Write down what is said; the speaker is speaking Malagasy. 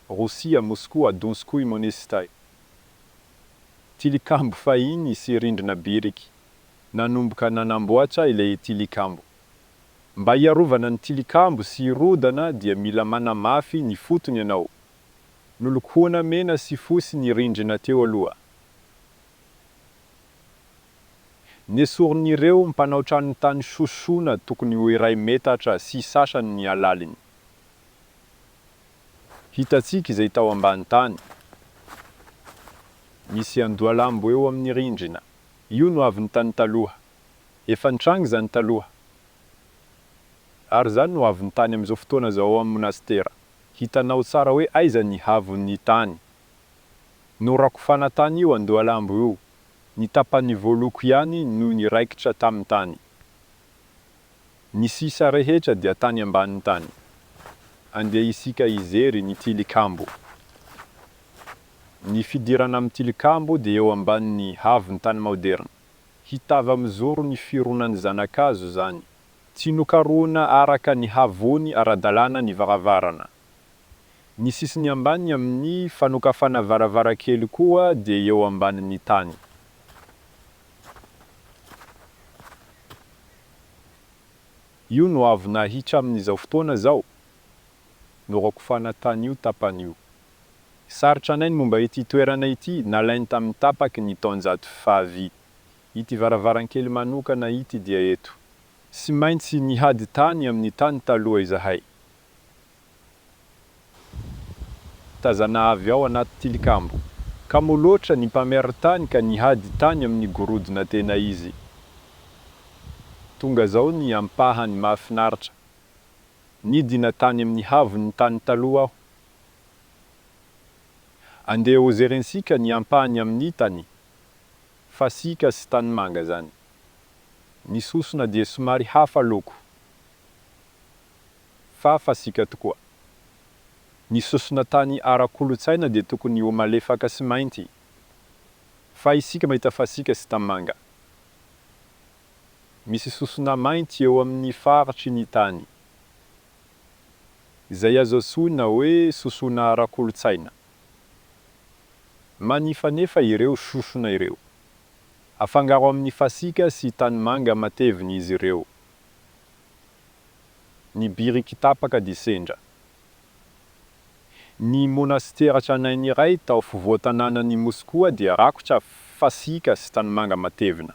Rosia, Moskoa, Donskoy Monesty, tilikambo fahiny sy rindrina biriky, nanomboka nanamboatra ilay tilikambo. Mba hiarovana ny tilikambo sy hirodana dia mila manamafy ny fotony ianao. Nolokoana mena sy fosy ny rindrina teo aloha. Nesorin'ireo mpanao trano tany sosona tokony ho iray metatra sy sasany ny halaliny. Hitantsika izay tao ambany tany. Misy andohalambo eo amin'ny rindrina. Io no avy ny tany taloha. Efa nitranga izany taloha. Ary izany no avy ny tany amin'izao fotoana izao ao amin'ny monasitera. Hitanao tsara hoe aiza ny havon'ny tany. Norakofana tany io andohalambo io. Ny tapany voaloko ihany no niraikitra tamin'ny tany. Ny sisa rehetra dia tany ambany tany. Andeha isika hijery ny tilikambo. Ny fidirana amin'ny tilikambo dia eo ambanin'ny havon-tany maoderina. Hitava mizoro ny fironan'ny zanakazo izany. Tsy nokarohina araka ny havony ara-dalàna ny varavarana. Ny sisiny ambany amin'ny fanokafana varavarankely koa dia eo ambanin'ny tany. Io no avy nahitra amin'izao fotoana izao? Norakofana tany io tapany io. Sarotra anay ny momba ity toerana ity nalainy tamin'ny tapaky ny taonjato fahavy. Ity varavarankely manokana ity dia eto. Tsy maintsy nihady tany amin'ny tany taloha izahay. Tazana avy ao anaty tilikambo. Kamo loatra ny mpamerin-tany ka nihady tany amin'ny gorodona tena izy. Tonga izao ny ampahany mahafinaritra. Nidina tany amin'ny havon'ny tany taloha aho. Andeha hojerentsika ny ampahany amin'ny tany. Fasika sy tanimanga izany. Ny sosona dia somary hafa loko. fa fasika tokoa. Ny sosona tany ara-kolontsaina dia tokony ho malefaka sy mainty, fa isika mahita fasika sy tanimanga. Misy sosona mainty eo amin'ny faritry ny tany, izay azo antsoina hoe sosona ara-kolontsaina. Manify anefa ireo sosona ireo. Afangaro amin'ny fasika sy tanimanga matevina izy ireo. ny biriky tapaka dia sendra. Ny monasitera tranainy iray tao fovoan-tanànan'i Moskoa dia rakotra fasika sy tanimanga matevina.